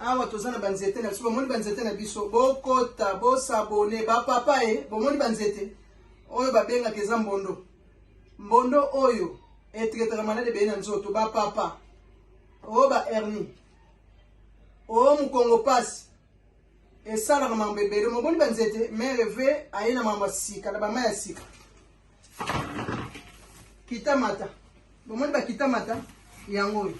awa toza na banzete na biso bomoni banzete na biso bokota bosabone bapapa e bomoni banzete oyo babengaka eza mbondo mbondo oyo etretaka malade ebele na nzoto bapapa o ba hernie o mokongo pasi esalaka mambo ebele moboni banzete mai reve aye na mambo ya sika na bamai ya sika kitamata bomoni bakitamata yango oyo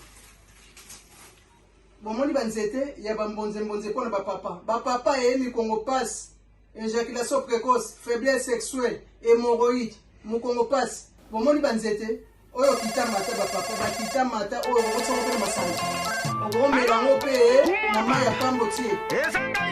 Bomoni ba nzete ya ba mbonze mbonze pona ba papa. Ba papa eye mikongo pasi, ejaculation precoce, faiblesse sexuelle, hemorroïde, mokongo pasi. Bomoni ba nzete oyo kita mata ba papa, ba kita mata oyo okotsoko pe na masanga. Okomela ngo pe na mayi ya pambo tie.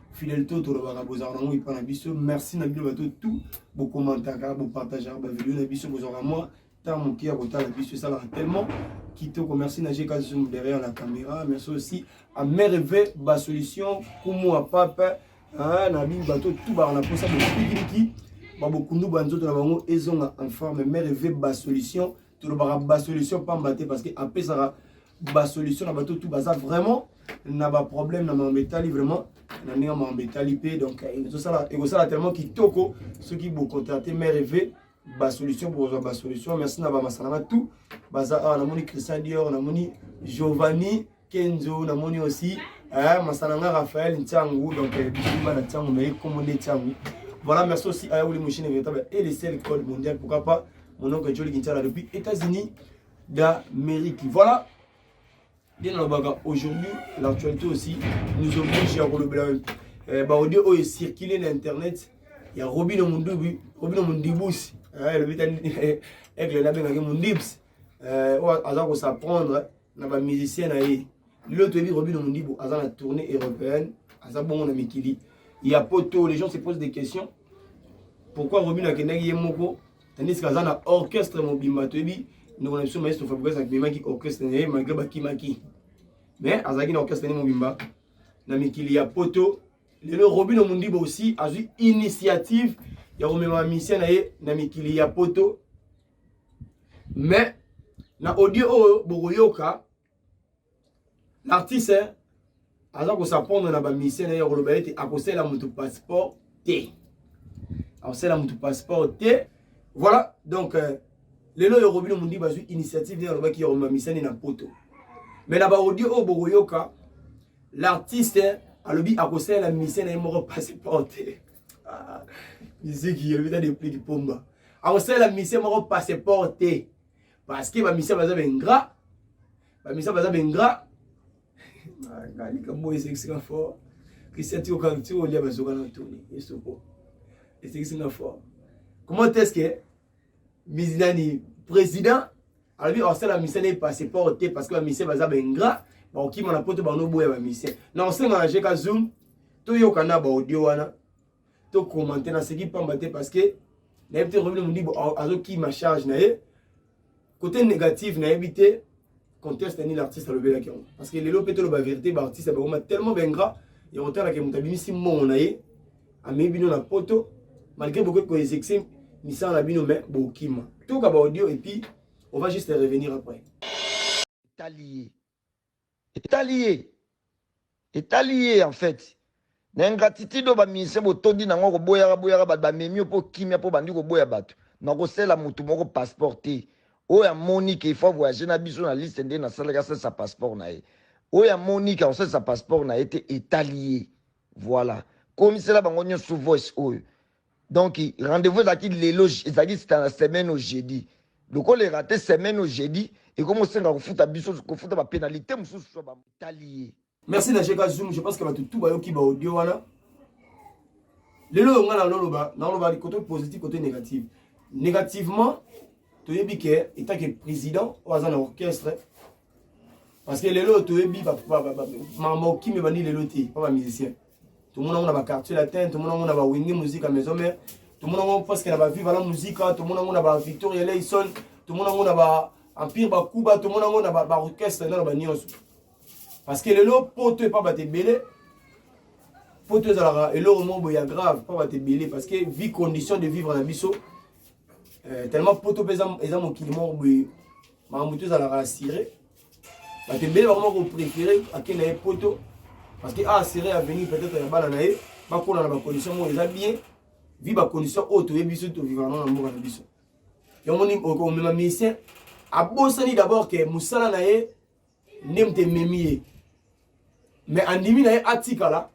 fidelité oyo tolobaka bozalaka nango epai na biso merci na bino bato tout bokomantaka bopartageaka bavideo na biso bozwaka mwa ntango moke ya kotala biso esalaka tellement kitoko merci na jeka zoom derrière la caméra merci aussi à merve basolution kumu ya pape na bino bato tout baka na mposa bokipikiliki babokundu ba nzoto na bango ezonga en forme merve basolution tolobaka basolution pamba te parce que apesaka ba solution na bato tu baza vraiment na ba problème na makambo etali vraiment na ndenge makambo etali mpe donc euh, ekosala tellement kitoko soki bocontacte mare eve basolution bokozwa basolution merci na bamasana na tout baza awa namoni christian dior namoni giovanni kenzo namoni aussi eh, masana nga raphael ntiangu donc euh, bisuma na ntiangu naye kombo nde ntiangu voilà merci aussi ayauli moshine véritable et le seul code mondial pourquoi pas mon oncle joli kintiala depuis états-unis d'Amérique. Voilà. Bien nalobaka aujourd'hui l'actualité aussi nous oblige ya kolobela eh, baaudio oyo ecircule na internet ya robino mundubi robino mundibusi eh, elobi ta aigle nabengaki mundibs eh, oyo aza kosaprendre na bamusicien na ye lelo toyebi robino mundibu aza na tournée européenne aza bongo na mikili ya poto les gens se posent des questions pourquoi robino akendaki ye moko tandis que aza na orchestre mobimba toyebi ndeko na biso maestro fabrigas akimemaki orchestre na ye malgré bakimaki mais azalaki na orchestre ne mobimba na mikili ya poto lelo robino mundibo aussi azwi initiative ya komema misien na ye na mikili ya poto mais na audio oyo bokoyoka L'artiste aza kosapondre na bamisio na ye ya koloba ete akosela motu passeport te akosela motu passeport te voilà donc euh, lelo oyo robino mondi bazwi initiative nde alobaki ya komamisani na poto mais na baaudio oyo bokoyoka l'artiste alobi akosalela misio na ye moko passeport te ah, miziki elobi ta depliki pomba akosalela misio moko passeport te parce que ba misia baza ba ingrat ba misia baza ba ingrat ah, likambo esekisi nga fort christian ti okangi ti olia bazoka na toni esoko esekisi nga fort comment est-ce que mizinani président alobi osala mise na ye passeport te parce que bamise baza baingra bakokima na poto banoboya bamise na osenga na jeka zoom toyoka na baaudio wana to commenter na seki pamba te parce que na yebite Robin Mudibo azo ki ma charge na ye côté négatif na yebite conteste ni l'artiste alobelaki yango parce que lelo mpe toloba verité baartiste bakoma tellement baingra ya kotalaka moto abimisi mbongo na ye amei bino na poto malgré bokoki koexexe misala na bino mais bokima toyoka baaudio epuis on va juste revenir après tali ye Etali ye. Etali ye en fait. Na ingratitude oyo ba musiciens botondi na yango koboyaka boyaka bato bamemi yo mpo kimia mpo obandi koboya bato. Nakosela moto moko passeport te. Oyo amoni que il faut a voyager na biso na liste nde nasalaki asalisa passeport na ye. Oyo amoni que akosalisa passeport na ye te etali ye. Voilà. Komisela bango nionso voice oyo. donc rendez-vous ezalaki lelo ezalaki sita na semaine au jeudi lokola erate semaine au jeudi ekomi osenga kofuta biso kofuta bapenalite mosusu so batali ye merci na jeka zoom je pense que bato tu bayoki baaudio wana lelo oyo ngai naoloba naoloba koto positif koto négative négativement toyebi ke etant ke président oyo aza na orchestre parce que lelo oyo toyebi makambo okimi ebandi lelo te mpo bamusicien tomona ngo na ba quartier latin tomona ngo na ba wingi musica maison mère tomona ngo presque na ba viva la musica tomona ngo na ba victoria leison tomona ngo na ba empire ba kuba tomona ngo na ba, ba orchestre na ba nyonso parce que lelo poto epa bato ebele poto ezalaka eloko moko boye ya grave epa bato ebele parce que vie condition de vivre na biso euh, tellement poto mpe eza mokili moko boye makambo te ezalaka assuré bato ebele bakoma kopréféré akenda ye poto parce que aassuré avenir peut-être ya bana na ye bakola na bacondition moko eza bien vi bacondition oyo toyebi biso tovivana na mboka na biso yamoni omema musicien abosani d'abord ke mosala na ye nde moto ememi ye mais andimi na ye atikala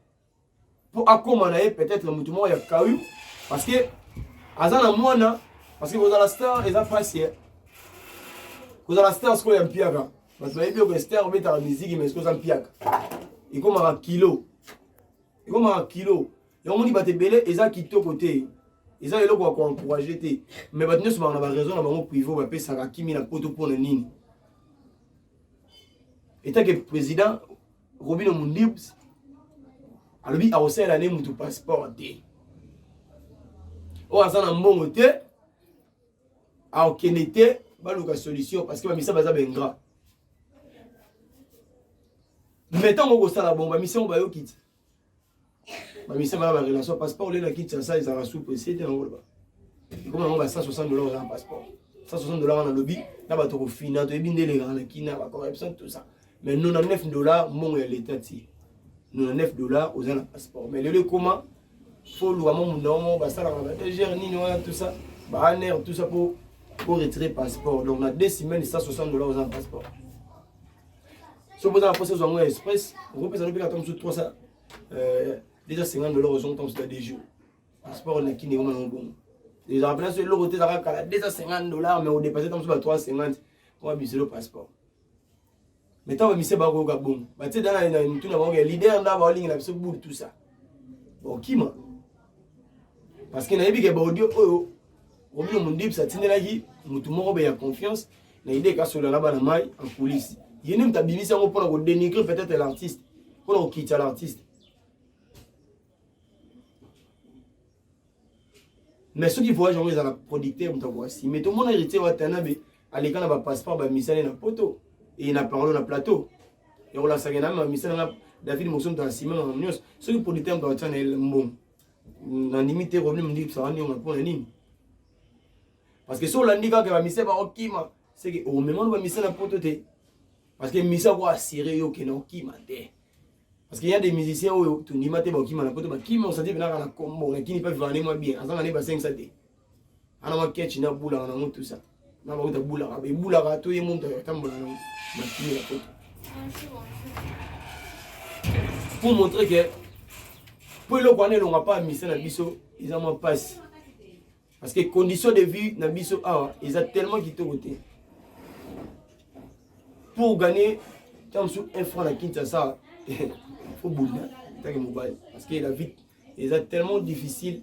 mpo akoma na ye peut-être moto moko ya kawi parce que aza na mwana parce que kozala star eza mpasi ye kozala star sikoyo ya mpiaka bato bayebi oko star obetaka miziki mais sikoyo oza mpiaka ekomaka kilo ekomaka kilo yango moni bato ebele eza kitoko te eza eloko ya koencourage te mais bato nyonso baka na baraison na bango privo bapesaka kimi na poto mpo na nini etake président Robino Mundibs alobi akosalela ne mutu passeport te oyo aza na mbongo te akokende te baluka solution parce que bamisa baza baingra me ntango okosala bongo bamisa yango bayoki te ba misala ya ba relation passeport olela kiti ya sa ezala sous pressé te yango ba comme yango ba 160 dollars na passeport 160 dollars na lobi na bato kofina toyebi nde elekaka na kina ba corruption tout ça mais 99 dollars mbongo ya leta ti 99 dollars oza na passeport mais lelo ekoma faut oluka mo munda mo basalaka ba egr nini wana tout ça ba aner tout ça po po retirer passeport donc na deux semaines 160 dollars oza na passeport soki boza na mposa ezwa yango ya express okopesa lobika ata mosusu 300 euh, déjà 50 dollar ozongi ntango mosusu ya deux jours passeport oleki ndenge omana mobongo ezala mpena so eloko te ezaka kala 250 dollar mais odepasse ntango mosusu ba 350 mwa biselo passeport mais ntango bamise bakoyoka bongo batie dana na mituna bango ya leader nda baolingela biso bulu tout ça bokima bon, parce que nayebi ke baaudio oyo omino mondibisa atindelaki motu moko be ya confiance na ide kasola na bana mai en coulisse ye nde moto abimisi yango mpona kodenigre peut-être l'artiste mpona kokitisa l'artiste mais soki voyage yango ezala producteur moto akoasime tomona héritier watanabe aleka na ba passeport ba misane na poto et na parole na plateau ya kolasaka na ma misana na David Mosom ta sima na nyos soki politique ba tana el mbom na ndimi te revenu mndi psa wani nga pona nini parce que so landi kaka ba misana ba okima c'est que au moment ba misana poto te parce que misa ko assurer yo ke na okima te parce que y a des musiciens oyo tondima te ba okima na poto ba kima osati bina na kombo na kini pa vivre na moi bien azanga ne ba 5 sa te ana makechi na bulaka na mutu sa na ba uta bulaka be bulaka to ye muntu ya tambola na makini ya poto pour montrer que po eloko wana elonga pa misa na biso eza mwa mpasi parce que condition de vie na biso awa eza tellement kitoko te pour gagner ntango mosusu un franc na kinshasa fo bunda ntange mobali parce que la vie eza tellement difficile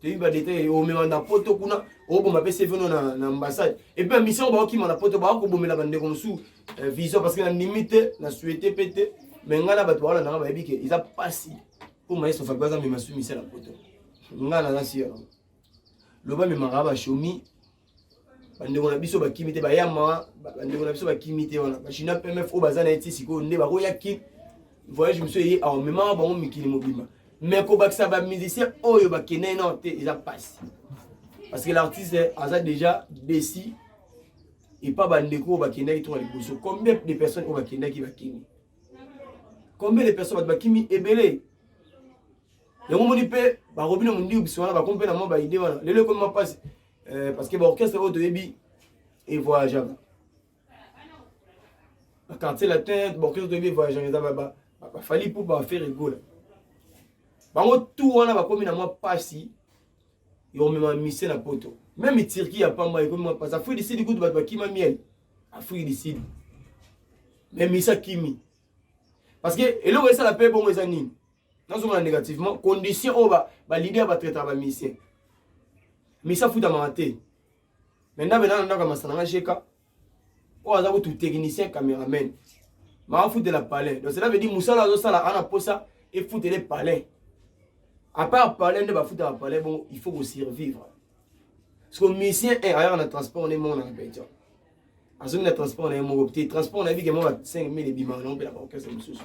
toyebi badetail omema na poto kuna oboma mpe seveno na, na ambassade epuis ya mission baokima na poto baa kobomela bandeko mosusu eh, vision parce que na ndimi te na suete mpe te me ngai na bato baola nanga bayebi ke eza mpasi mpo mayeso fabi aza mema su misala poto ngai naza si yango loba memaka bashomi bandeko na biso bakimi te bayama bandeko na biso bakimi te wana bachina pmf oyo baza na ye ti sikoyo nde bakoya kin voyage mosusu eye awa memaka bango mikili mobimba mais kobakisa bamusicien oyo bakende nao te eza mpasi parce que l'artiste aza déjà desi epa bandeko oyo bakendaki tonga liboso combien de personnes oyo bakendaki bakimi combien de personnes bato bakimi ebele yango moni mpe bakobi na mondiu biso wana bakomi mpe na mwa baide wana lelo ekomi mapasi Euh, parce que ba orchestre oyo toyebi e voyageaka ba quartier latin ba orchestre toyebi e voyageaka eza ba bafali mpo bafere egola bango tu wana bakomi na mwa mpasi ya komema mise na poto meme turki ya pamba ekomi mwa mpasi afrique du sud kutu bato bakima miel afrique du sud me mise akimi parce que eloko esala mpe bongo eza nini nazonga na négativement condition oyo baleader batraitaka bamisien misi afutamaka te mai ndambe nana ndako ya masana nga jeka oyo aza kutu technicien cameraman maafutela palais donc cela veut dire mosala azosala ana mposa efutele palais à part palais nde bafutaka palais bongo il faut kosurvivre parce que misien eh, ayaka na transport nde moko na repetition azongi na transport na ye moko te transport na ye bikemoko 5000 ebimaka na mpe na baorchestre mosusu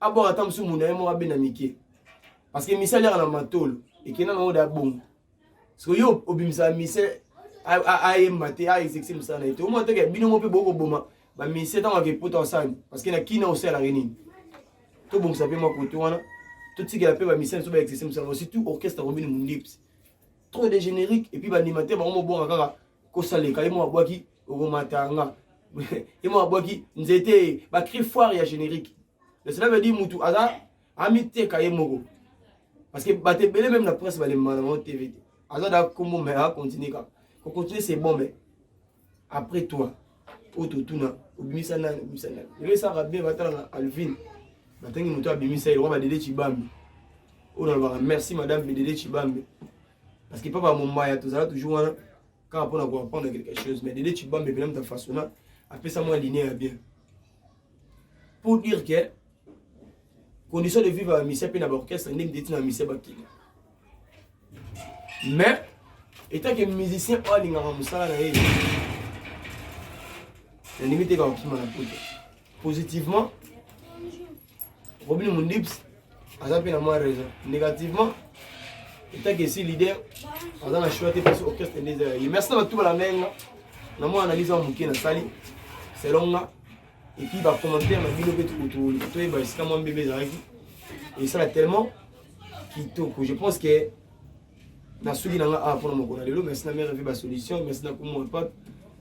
abwaka ata mosusu mona ye moko abenda mike parce que misali yaka na matolo ekenda nango da bongo soki yo obimisaka mise ayemba te aexexe mosala na ye te omona toke bino mo mpe bokoboma bamise ntango ake mpota osani parce que na kina osalaka nini tobongisa mpe mwa kote wana totikela mpe bamise biso baexexe mosala surtout orchestre combine mondips trop de générique et puis baanimateur bango mobonga kaka kosaleka ye mwa bwaki okomatanga ye mwa bwaki nzete ba cri foire ya générique mais cela veut dire mutu aza amiteka ye moko parce que bato ebele meme na presse balembana bango tv te aza da kombo mais acontinue kaka kocontinue c'est bon mais après toi oyo totuna obimisa nani obimisa nani lelo esaka bien batala na alvin batangi moto abimisa ye lokwa badede cibambe oyo nalobaka merci madame bedede cibambe parce que papa mombaya tozala toujours wana kaka mpona koapprendre quelque chose mais dede cibambe mpena moto afasona apesa mwa linie ya bien pour dire que condition de vivre ya misia mpe na baorchestre nde miteti na misia bakili mais etake musicien oyo alingaka mosala na ye nalingi te kakokima na poto positivement robin mondips aza mpe na mwa raison négativement etake esi leader aza na choix te parce orchestre nde eza ya ye merci na batu balanda ye nga na mwa analyse ya moke nasali selon nga et puis ba commentaires na bino pe tukutu toyeba esika mwa mbebe ezalaki esala tellement kitoko je pense que nasuki na nga awa mpona mokolo ya lelo merci na mare evi basolution merci na kumwa pape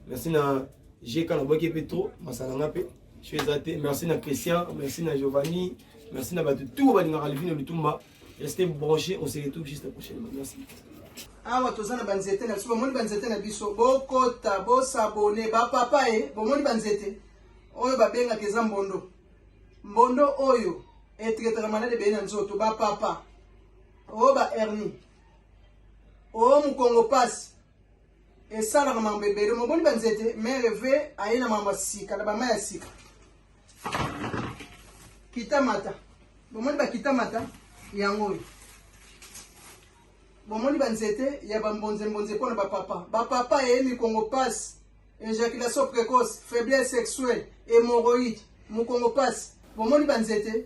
merci na gk nabwaki mpe trop masala nga mpe so eza te merci na christian merci na giovanni merci na bato tout balingaka livine lutumba Restez branchés, on se retrouve juste prochainement. Merci. awa toza na banzete na biso bomoni banzete na biso bokota bosabone bapapa e bomoni banzete oyo babengaka eza mbondo mbondo oyo etretaka malade ebele na nzoto bapapa o ba hernie o mokongo pasi esalaka mambo ebele moboni banzete mere ve aye na mambo ya sika na bama ya sika kita mata bomoni bakita mata yango oyo bomoni banzete ya bambonzembonze mpo na bapapa bapapa eye mikongo pasi ejaculation précoce faiblesse sexuelle hémorroïde mokongo pasi bomoni banzete